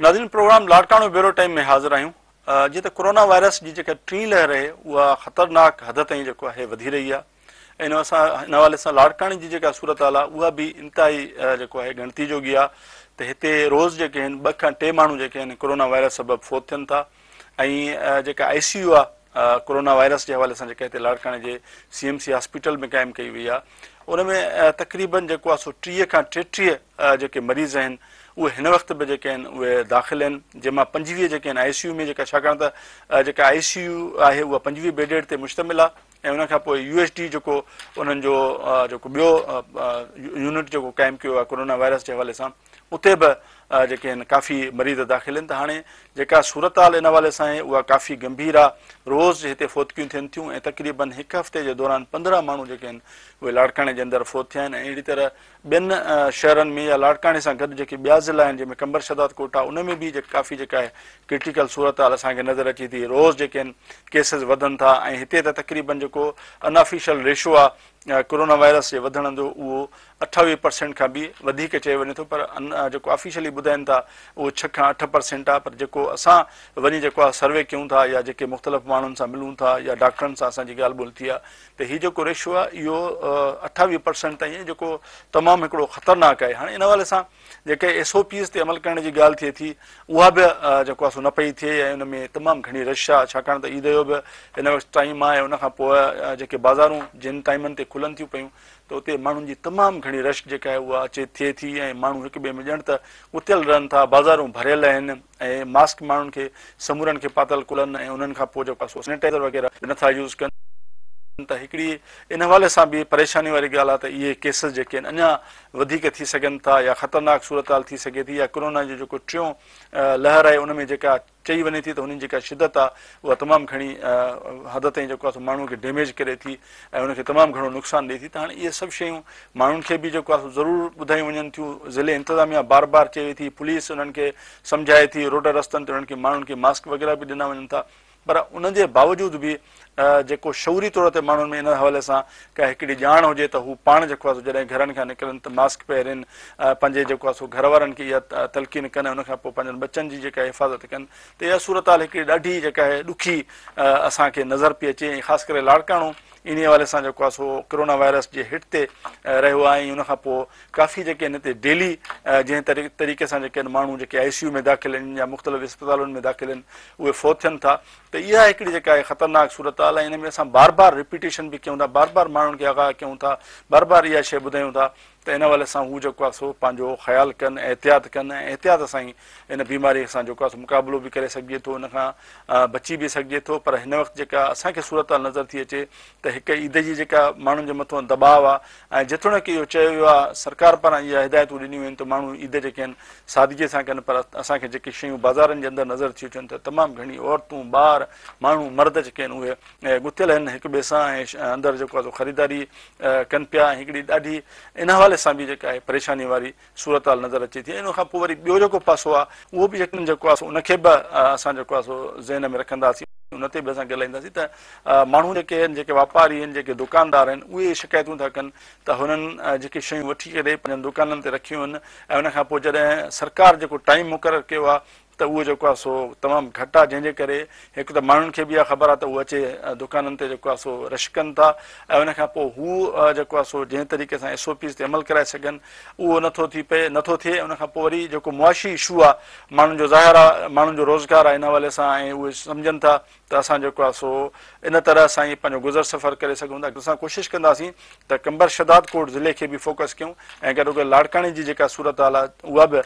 ناظرين programme Larkana bureau time ۾ حاضر آهيون جي ته ڪورونا وائرس جي جيڪا ٽين لهر آهي اها خطرناڪ حد تائين جيڪو آهي وڌي رهي آهي ان سان ان حوالي سان لاڙڪاڻي جي جيڪا صورت حال آهي اها به انتهائي جيڪو آهي ڳڻتي جوڳي آهي ته هتي روز جيڪي آهن ٻه کان ٽي ماڻهو جيڪي آهن ڪورونا وائرس سبب فوت ٿين ٿا ۽ جيڪا آء سي يو آ ڪورونا وائرس جي حوالي سان جيڪا هتي لاڙڪاڻي جي سي ايم سي هاسپيٽل ۾ قائم ڪئي وئي آ ان ۾ تقريبن جيڪو آ سو ٽيهه کان ٽيٽيهه جيڪي مريض آهن اهي هن وقت به جيڪي آهن اهي داخل آهن جنهن مان پنجويهه جيڪي آهن آء سي يو ۾ جيڪا ڇاڪاڻ ته جيڪا آء سي يو آهي اها پنجويهه بيڊيڊ تي مشتمل آ ۽ ان کان پوء يو ايس ڊي جيڪو انهن جو جيڪو ٻيو يونٽ جيڪو قائم ڪيو آهي ڪورونا وائرس جي حوالي سان اتي به جيڪي آهن ڪافي مريض داخل آهن ته هاڻي جيڪا صورتحال ان حوالي سان آهي اها ڪافي گنڀير آهي روز هتي فوتگيون ٿين ٿيون ۽ تقريبن هڪ هفتي جي دوران پندرهن ماڻهو جيڪي آهن اهي لاڙڪاڻي جي اندر فوت ٿيا آهن ۽ اهڙي طرح ٻين شهرن ۾ يا لاڙڪاڻي سان گڏ جيڪي ٻيا ضلعا آهن جنهن ۾ قمبر شهداد ڪوئٽا ان ۾ به جيڪي ڪافي جيڪا آهي ڪرٽيڪل صورتحال اسان کي نظر اچي ٿي روز جيڪي آهن ڪيسز وڌن ٿا ۽ هتي ته تقريبن جيڪو ان آفيشل ريشو آهي ڪورونا وائرس جي وڌڻ جو اهو اٺاويهه پرسينٽ کان به وڌيڪ چيو وڃي ٿو پر ان جيڪو آفيشلي ٻڌائين ٿا اهو ڇهه کان اٺ پرسينٽ آهي پر جيڪو اسان وڃي جيڪو آهي سروي ڪيون ٿا يا جيڪي مختلف ماڻهن سان ملون ٿا يا ڊاڪٽرن سان اسان جي ڳالهه ٻولهه ٿي آهي ته هي جيڪو ريشو آهي اهو اٺاويهه پرسينٽ تائين آهي جيڪو تمام هڪڙو خطرناڪ آهي هاڻي ان حوالي سان جيڪي ايس او پيز تي عمل ڪرڻ جي ڳالهه ٿئي ٿي اها به جيڪو آهي سو نه پئي ٿئي ۽ ان ۾ تمام گهڻي رش آهي ڇاڪاڻ ته عيد جو به هن وقت ٽائيم آهي ان کان پوء جيڪي بازارون جن ٽائيمن تي کلن ٿيون پيون ته اتي ماڻهن جي تمام گهڻي رش جيڪا آهي اها اچي ٿئي ٿي ۽ ماڻهو هڪ ٻئي ۾ ڄڻ ته ڳتيل رهن ٿا بازارون ڀريل آهن اهي ماسڪ ماڻهن کي سمورن کي پاتل ڪلهن ۽ انهن کان پوء جيڪو ڪو سينيٽائيزر وغيره به نٿا يوز ڪن ته هڪڙي ان حوالي سان به پريشاني واري ڳالهه آهي ته اهي ڪيسز جيڪي آهن اڃا وڌيڪ ٿي سگهن ٿا يا خطرناڪ صورتحال ٿي سگهي ٿي يا ڪرونا جو جيڪو ٽيون لهر آهي ان ۾ جيڪا چئي وڃي ٿي ته هن جي جيڪا شدت آهي اها تمام گهڻي حد تائين جيڪو آهي سو ماڻهو کي ڊيميج ڪري ٿي ۽ ان کي تمام گهڻو نقصان ڏئي ٿي ته هاڻي اهي سڀ شيون ماڻهن کي به جيڪو آهي سو ضرور ٻڌايون وڃن ٿيون ضلعي انتظاميا بار بار چئي ٿي پوليس انهن کي سمجهائي ٿي روڊن رستن تي انهن کي ماڻهن کي ماسڪ وغيره به ڏنا وڃن ٿا پر ان جي باوجود به جيڪو شعوري طور تي ماڻهن ۾ ان حوالي سان ڪا هڪڙي ڄاڻ هجي ته هو پاڻ جيڪو آهي جڏهن گهرن کان نڪرن ته ماسڪ پهرين پنهنجي جيڪو آهي سو گهر وارن کي اها تلقين ڪن ان کان پوء پنهنجن ٻچن جي جيڪا حفاظت ڪن ته اها صورتحال هڪڙي ڏاڍي جيڪا آهي ڏکي اسان کي نظر پئي اچي ۽ خاص ڪري لاڙڪاڻو انهي حوالي سان جيڪو آهي سو ڪرونا وائرس جي هٽ تي رهيو آهي ۽ ان کان پوء ڪافي جيڪي آهن هتي ڊيلي جنهن طريقي سان جيڪي آهن ماڻهو جيڪي آئي سي يو ۾ داخل آهن يا مختلف اسپتالن ۾ داخل آهن اهي فوت ٿين ٿا ته اها هڪڙي جيڪا آهي خطرناڪ صورتحال آهي ان ۾ اسان بار بار رپيٽيشن به ڪيون ٿا بار بار ماڻهن کي آگاهه ڪيون ٿا بار بار اها شيء ٻڌايون ٿا ته ان حوالي سان هو جيڪو آهي سو پنهنجو خيال ڪن ۽ احتياط ڪن ۽ احتياط سان ئي ان بيماريء سان جيڪو آهي سو مقابلو به ڪري سگهجي ٿو ان کان بچي به سگهجي ٿو پر هن وقت جيڪا اسان کي صورتحال نظر ٿي اچي ته هڪ عيد جي جيڪا ماڻهن جي مٿو دٻاء آهي ۽ جيتوڻيڪ اهو چيو ويو آهي سرڪار پاران اها هدايتون ڏنيون ويون ته ماڻهو عيد جيڪي آهن سادگي سان ڪن پر اسان کي جيڪي شيون بازارن جي اندر نظر ٿيون اچن ته تمام گهڻي عورتون ٻار ماڻهو مرد جيڪي آهن اهي گٿيل آهن هڪ ٻئي سان ۽ اندر جيڪو آهي سو خريداري ڪن پيا ۽ هڪڙي ڏاڍي ان حوالي سان به جيڪا آهي پريشاني واري صورتحال نظر اچي ٿي ۽ ان کان پوء وري ٻيو جيڪو پاسو آهي اهو به يقينن جيڪو آهي ان کي به اسان جيڪو آهي سو ذهن ۾ رکنداسين ان تي به اسان ڳالهائينداسين ته ماڻهو جيڪي آهن جيڪي واپاري آهن جيڪي دڪاندار آهن اهي شڪايتون ٿا ڪن ته هنن جيڪي شيون وٺي ڪري پنهنجن دڪانن تي رکيون آهن ۽ ان کان پوء جڏهن سرڪار جيڪو ٽائيم مقرر ڪيو آهي ته اهو جيڪو آهي سو تمام گهٽ آهي جنهن جي ڪري هڪ ته ماڻهن کي به اها خبر آهي ته اهو اچي دڪانن تي جيڪو آهي سو رش ڪن ٿا ۽ ان کان پوء هو جيڪو آهي سو جنهن طريقي سان ايس او پيز تي عمل ڪرائي سگهن اهو نٿو ٿي پئي نٿو ٿئي ان کان پوء وري جيڪو معاشي اشو آهي ماڻهن جو ظاهر آهي ماڻهن جو روزگار آهي ان حوالي سان ۽ اهي سمجهن ٿا ته اسان جيڪو آهي سو ان طرح سان ئي پنهنجو گذر سفر ڪري سگهون ٿا. اسان ڪوشش ڪنداسين ته قمبر شهداد ڪوٽ ضلعي کي به فوڪس ڪيون ۽ گڏوگڏ لاڙڪاڻي جي جيڪا صورتحال آهي اها به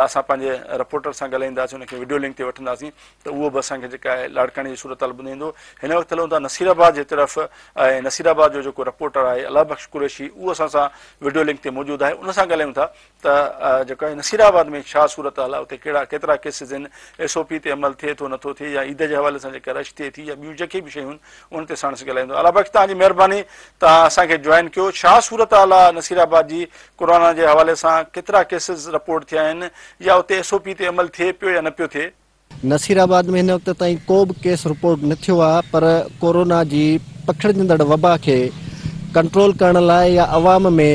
اسان پنهنجي رپورٽر سان ڳالهائينداسين ان کي وڊيو لنڪ تي وٺنداسين ته اهو به اسان کي جيڪا آهي لاڙڪاڻي جي صورتحال ٻڌائيندو. هن وقت هلون ٿا نصير آباد جي طرف ۽ نصير آباد جو جيڪو رپورٽر آهي الله بخش قريشي اهو اسان سان وڊيو لنڪ تي موجود آهي ان سان ڳالهايون ٿا ته جيڪا نصيرآباد ۾ ڇا صورتحال آهي، اتي ڪهڙا ڪيترا ڪيسز آهن، ايس او پي تي عمل ٿئي ٿو نٿو ٿئي يا عيد جي حوالي سان جيڪا رش ٿئي ٿي يا ٻيون جيڪي به شيون آهن ان تي ساڻس ڳالهائيندو. علا بخش توهان جي مهرباني توهان اسان کي جوائن ڪيو. ڇا صورتحال آهي نصيرآباد جي ڪورونا جي حوالي سان ڪيترا ڪيسز رپورٽ ٿيا آهن يا اتي ايس او پي تي عمل ٿئي پيو يا نه پيو ٿئي. نصير آباد ۾ هن وقت تائين ڪو به ڪيس رپورٽ نه ٿيو آهي پر ڪورونا جي پکڙجندڙ وبا کي ڪنٽرول ڪرڻ لاء يا عوام ۾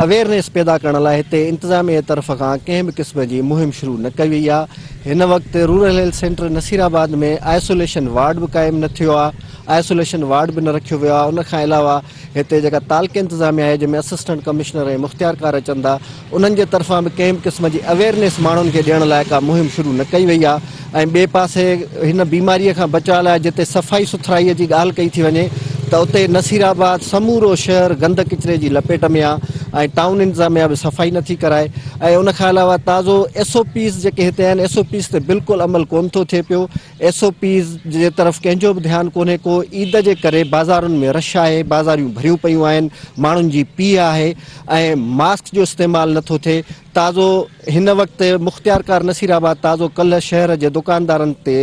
اويئرنيس پيدا ڪرڻ لاء هتي انتظاميه طرف کان ڪنهن به قسم جي مهم شروع نه ڪئي وئي آهي هن وقت rural health centre Nasirabad ۾ isolation ward به قائم نه ٿيو آهي آئسوليشن وارڊ به نه رکيو ويو آهي ان کان علاوه هتي جيڪا تعلقي انتظاميه آهي جنهن ۾ اسسٽنٽ ڪمشنر ۽ مختيارڪار اچن ٿا انهن جي طرفان به ڪنهن به قسم جي اويرنيس ماڻهن کي ڏيڻ لاء ڪا مهم شروع نه ڪئي وئي آهي ۽ ٻئي پاسي هن بيماري کان بچاء لاء جتي صفائي سٿرائي جي ڳالهه ڪئي ٿي وڃي ته اتي نصيرآباد سمورو شهر گند ڪچري جي لپيٽ ۾ آهي ۽ ٽائون انتظاميا به صفائي نٿي ڪرائي ۽ ان کان علاوه تازو ايس او پيز جيڪي هتي آهن ايس او پيز تي بلڪل عمل ڪونه ٿو ٿئي پيو ايس او پيز جي طرف ڪنهن جو به ڌيان ڪونهي ڪو عيد جي ڪري بازارن ۾ رش آهي بازاريون ڀريون پيون آهن ماڻهن جي پيهه آهي ۽ ماسڪ جو استعمال نٿو ٿئي تازو هن وقت مختيارڪار نصير آباد تازو ڪلهه شهر جي دڪاندارن تي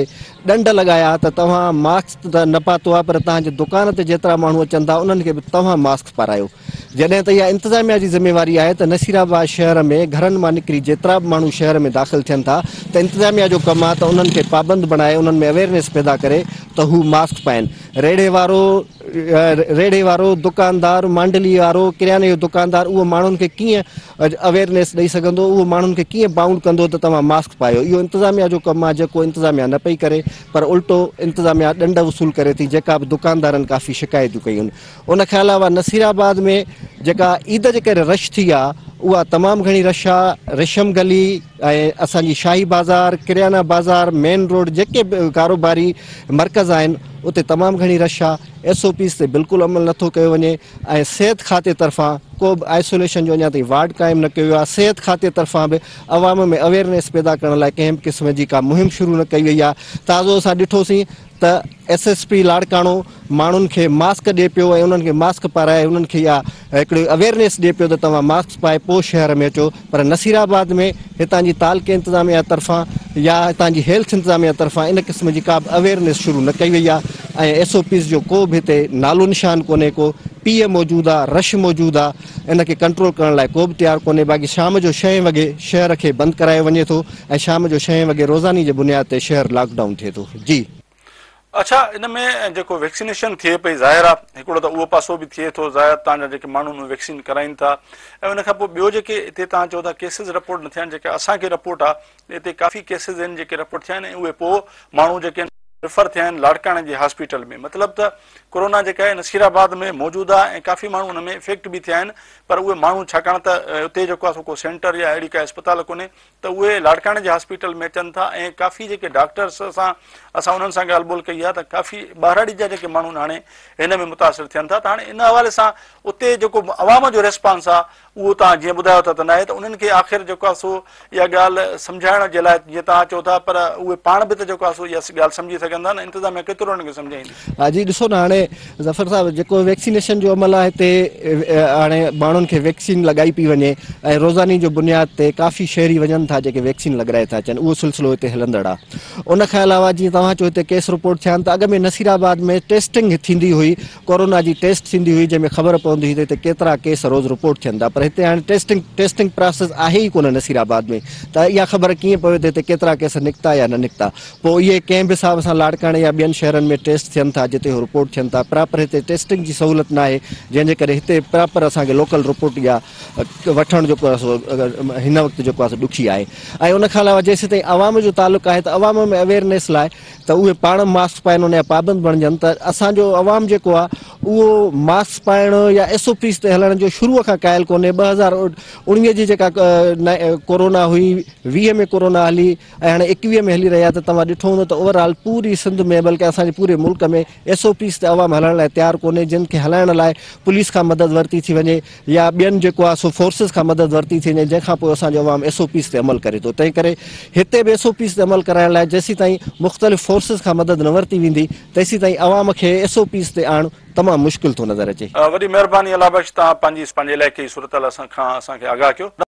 ڏنڊ لڳايا ته توهان ماسڪ نه پاتو آهي پر تهان جي دڪان تي جيترا ماڻهو اچن ٿا انهن کي به توهان ماسڪ پارايو جڏهن ته اها انتظاميا جي ذميواري آهي ته نصير آباد شهر ۾ گهرن مان نڪري جيترا به ماڻهو شهر ۾ داخل ٿين ٿا ته انتظاميا جو ڪم آهي ته انهن کي پابند بڻائي انهن ۾ اويرنيس پيدا ڪري ته هو ماسڪ پائين ريڙهي وارو ريڙهي وارو دڪاندار مانڊلي وارو ڪرياني جو دڪاندار اهو ماڻهن کي ڪيئن اويرنيس ڏئي سگهندو اهو ماڻهن کي ڪيئن بائونڊ ڪندو ته توهان ماسڪ پايو اهو انتظاميا جو ڪم آهي جيڪو انتظاميا نه پئي ڪري پر الٽو انتظاميا ڏنڊ وصول ڪري ٿي جيڪا به دڪاندارن ڪافي شڪايتون ڪيون ان کان علاوه نصير آباد ۾ جيڪا عيد جي ڪري رش ٿي آ اها تمام گهڻي رش آ ريشم گلي ۽ اسان جي شاهي بازار ڪريانا بازار مين روڊ جيڪي به ڪاروباري مرڪز آهن اتي تمام گهڻي رش آ ايس او پيز تي بلڪل عمل نٿو ڪيو وڃي ۽ صحت کاتي طرفان ڪو به آئسوليشن جو اڃا تائين وارڊ قائم نه ڪيو ويو آ صحت کاتي طرفان به عوام ۾ اويرنيس پيدا ڪرڻ لاء ڪنهن به قسم جي ڪا مهم شروع نه ڪئي وئي آ تازو اسان ڏٺوسين ته ايس ايس پي لاڙڪاڻو ماڻهن کي ماسڪ ڏي پيو ۽ انهن کي ماسڪ پارائي انهن کي اها هڪڙي اويئرنيس ڏي پيو ته توهان ماسڪ پائي پوء شهر ۾ اچو پر نصير آباد ۾ هتان جي تعلقي انتظاميا طرفان يا هتان جي هيلٿ انتظاميا طرفان ان قسم جي ڪابه اويئرنيس شروع نه ڪئي وئي آهي ۽ ايس او پيز جو ڪو به هتي نالو نشان ڪونهي ڪو پيء موجود آهي رش موجود آهي ان کي ڪنٽرول ڪرڻ لاء ڪو به تيار ڪونهي باقي شام جو شهين وڳي شهر کي بند ڪرايو وڃي ٿو ۽ شام جو شهين وڳي روزاني جي بنياد تي شهر لاڪ ڊائون ٿئي ٿو. جي. اڇا ان ۾ جيڪو ويڪسينيشن ٿئي پئي ظاهر آ هڪڙو ته اهو پاسو به ٿئي ٿو ظاهر تان جا جيڪي ماڻهو ۾ ويڪسين ڪرائين ٿا ۽ ان کان پوء ٻيو جيڪي اتي تان چئو ٿا ڪيسز رپورٽ نه ٿيا آهن جيڪا اسان کي رپورٽ آ اتي ڪافي ڪيسز آهن جيڪي رپورٽ ٿيا آهن ۽ اهي پوء ماڻهو جيڪي آهن ريفر ٿيا آهن لاڙڪاڻي جي هاسپيٽل ۾ مطلب ته ڪورونا جيڪا آهي نصير آباد ۾ موجود آ ۽ ڪافي ماڻهو ان ۾ افيڪٽ به ٿيا آهن پر اهي ماڻهو ڇاڪاڻ ته اتي جيڪو آ سو ڪو سينٽر يا اهڙي ڪا اسپتال ڪونهي ته اهي لاڙڪاڻي جي هاسپيٽل ۾ اچن ٿا ۽ ڪافي جيڪي ڊاڪٽرس سان اسان انهن سان ڳالهه ٻولهه ڪئي آهي ته ڪافي ٻهراڙي جا جيڪي ماڻهو هاڻي هن ۾ متاثر ٿين ٿا ته هاڻي ان حوالي سان اتي جيڪو عوام جو ريسپانس آهي اهو توهان جيئن ٻڌايو ٿا ته ناهي ته انهن کي آخر جيڪو آهي سو اها ڳالهه سمجهائڻ جي لاء جيئن توهان چئو ٿا پر اهي پاڻ به ته جيڪو آهي سو اها ڳالهه سمجهي سگهن ٿا نه انتظاميا ڪيترو انهن کي سمجهائيندي ها جي ڏسو نه هاڻي ظفر صاحب جيڪو ويڪسينيشن جو عمل آهي هتي هاڻي ماڻهن کي ويڪسين لڳائي پئي وڃي ۽ روزاني جو بنياد تي ڪافي شهري وڃن ٿا جيڪي ويڪسين لڳرائي ٿا اچن اهو سلسلو هتي هلندڙ آهي ان کان علاوه جيئن توهان چيو هتي ڪيس رپورٽ ٿيا آهن ته اڳ ۾ نصير آباد ۾ ٽيسٽنگ ٿيندي هئي ڪورونا جي ٽيسٽ ٿيندي هئي جنهن ۾ خبر پوندي هئي ته هتي ڪيترا ڪيس روز رپورٽ ٿين ٿا پر هتي هاڻي ٽيسٽنگ ٽيسٽنگ پراسيس آهي ئي ڪونه نصير آباد ۾ ته اها خبر ڪيئن پوي ته هتي ڪيترا ڪيس نڪتا يا نه نڪتا پوء اهي ڪنهن به حساب سان لاڙڪاڻي يا ٻين شهرن ۾ ٽيسٽ ٿين ٿا جتي اهي رپورٽ ٿين ٿا پراپر هتي ٽيسٽنگ جي سهولت ناهي جنهن جي ڪري هتي پراپر اسان کي لوڪل رپورٽ يا وٺڻ جيڪو آهي سو هن وقت جيڪو آهي سو ڏکي آهي ۽ ان کان علاوه جيسيتائين عوام جو تعلق آهي ته عوام ۾ اويرنيس لاء ته اهي پاڻ ماسڪ پائن ان جا پابند بڻجن ته اسان جو عوام جيڪو آهي اهو ماسڪ پائڻ يا ايس او پيز تي هلڻ جو شروع کان قائل ڪونهي ٻه هزار اوڻيهه جي جيڪا ڪورونا هئي ويهه ۾ ڪورونا هلي ۽ هاڻي ايڪويهه ۾ هلي رهيا ته توهان ڏٺو هوندو ته اوور آل پوري سنڌ ۾ بلڪه اسان جي پوري ملڪ ۾ ايس او پيز تي عوام هلڻ لاء تيار ڪونهي جن کي هلائڻ لاء پوليس کان مدد ورتي ٿي وڃي يا ٻين جيڪو آهي سو فورسز کان مدد ورتي ٿي وڃي جنهن کان پوء اسان جو عوام ايس او پيز تي عمل ڪري ٿو تنهن ڪري هتي به ايس او پيز تي عمل ڪرائڻ لاء جيسيتائين مختلف فورسز کان مدد نه ورتي ويندي تيسيتائين عوام کي ايس او پيز تي آڻڻ تمام مشڪل ٿو نظر اچي. وڏي مهرباني الله بخش تهان پنهنجي علائقي جي صورتحال اسان کان اسان کي آگاهه ڪيو.